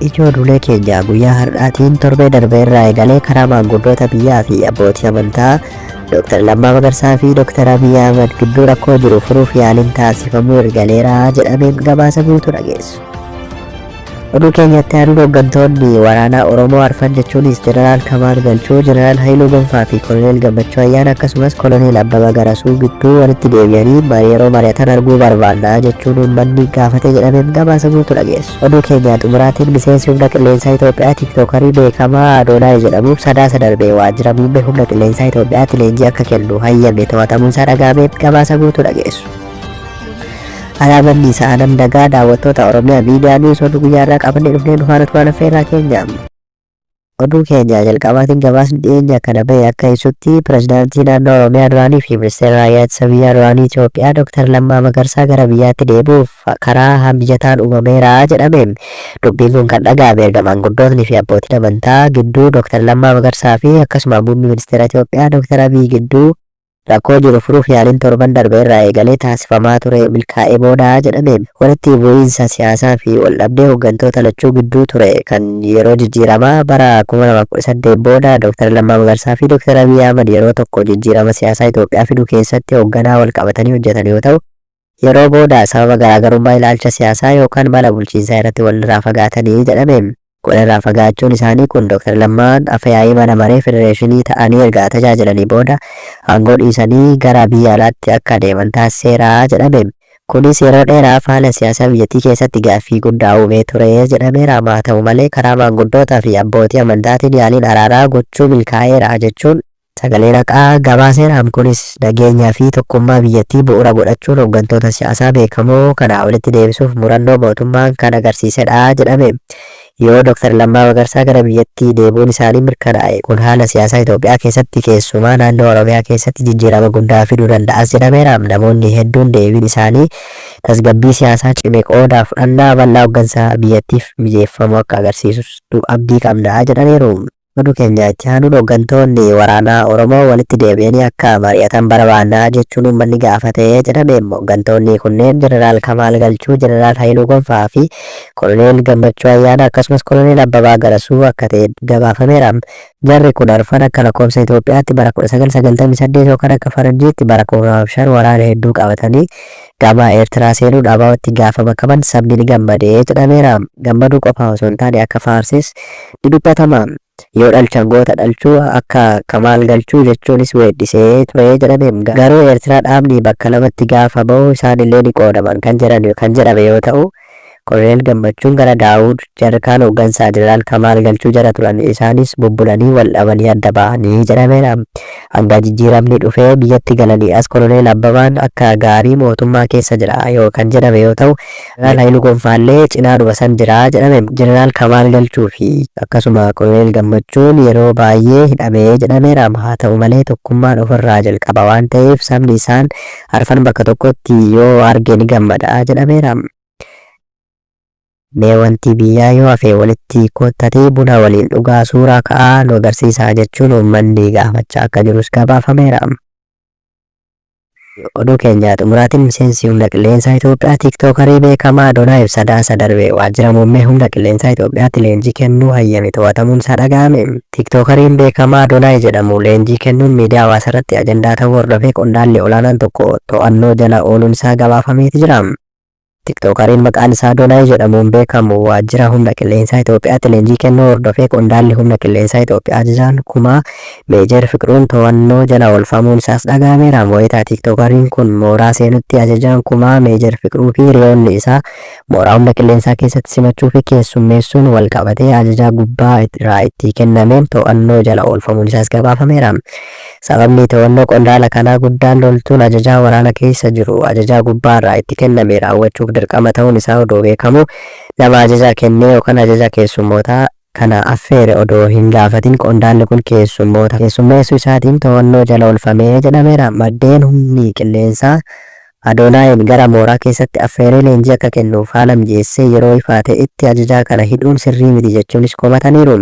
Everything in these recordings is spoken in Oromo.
Ijoo dulee keenya guyyaa har'aatiin torbee darbee irraa eegalee karaa maanguddoota biyyaa fi abbootii amantaa Dr. Lammaa Magarsaa fi Dr. Abiy Ahmad gidduu rakkoo jiru furuuf yaaliin taasifamuu ergaleera jedhamee gabaasa guutuu dhageessu. Oduu keenyatti aanuun hooggantoonni waraanaa Oromoo arfan jechuunis Jeneraal Kamaal Galchuu, Jeneraal Hayiluu Gonfaa fi Koloneel Gammachuu Ayyaana akkasumas Koloneel Abbaba Garasuu gidduu walitti deebi'anii marii yeroo mari'atan arguu barbaanna jechuun uummanni gaafate jedhameef gabaasa guutuu dhageessu. Oduu keenyaa xumuraatiin miseensi humna qilleensaa Itoophiyaa tiiktookarii beekamaa Adoonaay jedhamuuf sadaasa darbee waajjira muummee humna qilleensaa Itoophiyaatti leenjii akka kennu hayyame to'atamuu isaa dhaga'ameef gabaasa guutuu dhageessu. Alaabaan Niisaa Adam Dagaa daawwattoota Oromiyaa miidiyaa Niiws oduu guyyaa irraa qabannee dhufnee dhufaa nuti waan affeerraa keenya. Oduu keenya jalqabaatiin gabaasni dhiyeenya kana bahe akka ibsutti pirezidaantii naannoo Oromiyaa duraanii fi ministeera raayyaa ittisa biyyaa duraanii Itoophiyaa Dr. Lammaa Magarsaa gara biyyaatti deebi'uuf karaa hamijataan uumameera jedhame. Dubbiin kun kan dhaga'ame erga maanguddootni fi abbootiin amantaa gidduu Dr. Lammaa Magarsaa fi akkasuma muummee ministeera Itoophiyaa Dr. Abiy gidduu Rakkoo jiru furuuf yaaliin torban darbe irraa eegalee taasifamaa ture milkaa'ee booda jedhame walitti bu'iinsa siyaasaa fi waldhabdee hoggantoota lachuu gidduu ture kan yeroo jijjiiramaa bara 2018 booda Dr. Lammaa Magarsaa fi Dr. Abiy Ahmad yeroo tokko jijjiirama siyaasaa Itoophiyaa fidu keessatti hogganaa walqabatanii hojjetan yoo ta'u, Yeroo booda sababa garaagarummaa ilaalcha siyaasaa yookaan mala bulchiinsaa irratti wal irraa fagaatanii jedhame. Wal irraa fagaachuun isaanii kun Dr. Lammaan Afayaa'ii Mana Maree Federeeshinii ta'anii erga tajaajilanii booda aangoo dhiisanii gara biyya alaatti akka adeeman taasiseera jedhame. Kunis yeroo dheeraaf haala siyaasaa biyyattii keessatti gaaffii guddaa uumee ture jedhameera. Maa ta'u malee karaa maanguddootaa fi abbootii amantaatiin yaaliin araaraa gochuu milkaa'eera jechuun Sagalee Raqaa gabaaseera. Am kunis nageenyaa fi tokkummaa biyyattii bu'ura godhachuun hoggantoota siyaasaa beekamoo kanaa olitti deebisuuf murannoo mootummaan kan agarsiisedha jedhame. Yoo Dr. Lammaa Magarsaa gara biyyatti deebuun isaanii mirkanaa'e kun haala siyaasaa Itoophiyaa keessatti keessumaa naannoo Oromiyaa keessatti jijjiirama guddaa fiduu danda'as jedhameera. Namoonni hedduun deebiin isaanii tasgabbii siyaasaa cime qooda fudhannaa bal'aa hoggansa biyyattiif mijeeffamu akka agarsiisus abdii qabna jedhaniiru. Oduu keenya itti aanuun hoggantoonni waraanaa Oromoo walitti deebi'anii akka mari'atan barbaanna jechuun uummanni gaafate jedhame. Hoggantoonni kunneen Jeneraal Kamaal Galchuu, Jeneraal Hayiluu Gonfaa fi Koloneel Gammachuu Ayyaanaa akkasumas Koloneel Abbabaa Garasuu akka ta'e gabaafameera. Jarri kun arfan akka lakkoofsa Itoophiyaatti bara 1998 yookaan akka Faranjiitti bara 2005 waraana hedduu qabatanii Gama Eertiraa seenuun abo tti gaafa makaman sabni ni gammade jedhameera. Gammaduu qofaa osoo hin taane akka faarses ni dubbatama. Yoo dhalchan goota dhalchuu akka Kamaal Galchuu jechuunis weeddisee ture jedhame. Garuu Eertiraa dhaabni bakka lamatti gaafa bahu isaanillee ni qoodaman kan jedhame yoo ta'u, Koloneel Gammachuun gara Daawud, jarri kaan hooggansaa Jeneraal Kamaal Galchuu jala turan. Isaanis bubbulanii wal dhabanii adda ba'ani jedhameera. Hanga jijjiiramni dhufee biyyatti galanii as Koloneel Abbabaan akka gaarii mootummaa keessa jira yoo kan jedhame yoo ta'u, Jeneraal Hayiluu Gonfaallee cinaadhuma san jira jedhame. Jeneraal Kamaal Galchuu fi akkasuma Koloneel Gammachuun yeroo baayyee hidhame jedhameera. Haa ta'u malee tokkummaan ofirraa jalqaba waan ta'eef sabni isaan. arfan bakka tokkotti yoo arge ni gammada jedhameera. Mee wanti biyyaa yoo hafe walitti koottatee buna waliin dhugaa suuraa ka'aa nu agarsiisaa jechuun uummanni gaafachaa akka jirus gabaafameera. Oduu keenya xumuraatiin miseensi humna qilleensaa Itoophiyaa tiiktookarii beekamaa Donaa Ibsadaa isa darbe waajjira muummee humna qilleensaa Itoophiyaatti leenjii kennuu hayyame to'atamuun isaa dhaga'ame. Tiiktookariin beekamaa Adonaay jedhamu leenjii kennuun miidiyaa hawaasaarratti ajandaa ta'uu hordofee qondaalli olaanaan tokko to'annoo jala ooluun isaa gabaafameeti jira. Tiiktookariin maqaan isaa Adonaay jedhamuun beekamu waajjira humna qilleensaa Itoophiyaatti leenjii kennuu hordofee qondaalli humna qilleensaa Itoophiyaa ajajaan kumaa Meejer Fiqruun to'annoo jala oolfamuun isaas dhaga'ameera. Wayita tiiktookariin kun mooraa seenutti ajajaan kumaa Meejer Fiqruu fi hiriyoonni isaa Mooraa Humna Qilleensaa keessatti simachuu fi keessummeessuun wal qabatee ajajaa gubbaa irraa itti kennameen to'annoo jala oolfamuun isaas gabaafameera. Sababni to'annoo qondaala kanaa guddaan loltuun ajajaa waraana keessa jiru ajajaa gubbaa irraa itti kenname raawwachuuf dirqama ta'uun isaa odoo beekamuu nama ajaja kennee yookaan ajaja keessummootaa kana affeere odoo hin gaafatin qondaalli kun keessummoota keessummeessuu isaatiin to'annoo jala oolfame jedhameera. Maddeen humni qilleensaa Adoonaayiin gara mooraa keessatti affeeree leenjii akka kennuuf haala mijeessee yeroo ifaa ta'etti ajajaa kana hidhuun sirrii miti jechuunis komataniiru.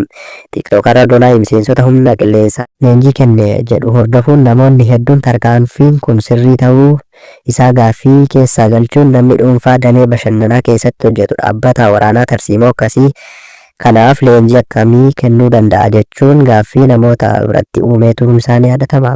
Tiiktookarri Adoonaay miseensota humna qilleensaa. leenjii kenne jedhu hordofuun namoonni hedduun tarkaanfiin kun sirrii ta'uu isaa gaaffii keessaa galchuun namni dhuunfaa damee bashannanaa keessatti hojjetu dhaabbataa waraanaa tarsiimoo akkasii kanaaf leenjii akkamii kennuu danda'a jechuun gaaffii namoota biratti uumee turuun isaa ni yaadatama.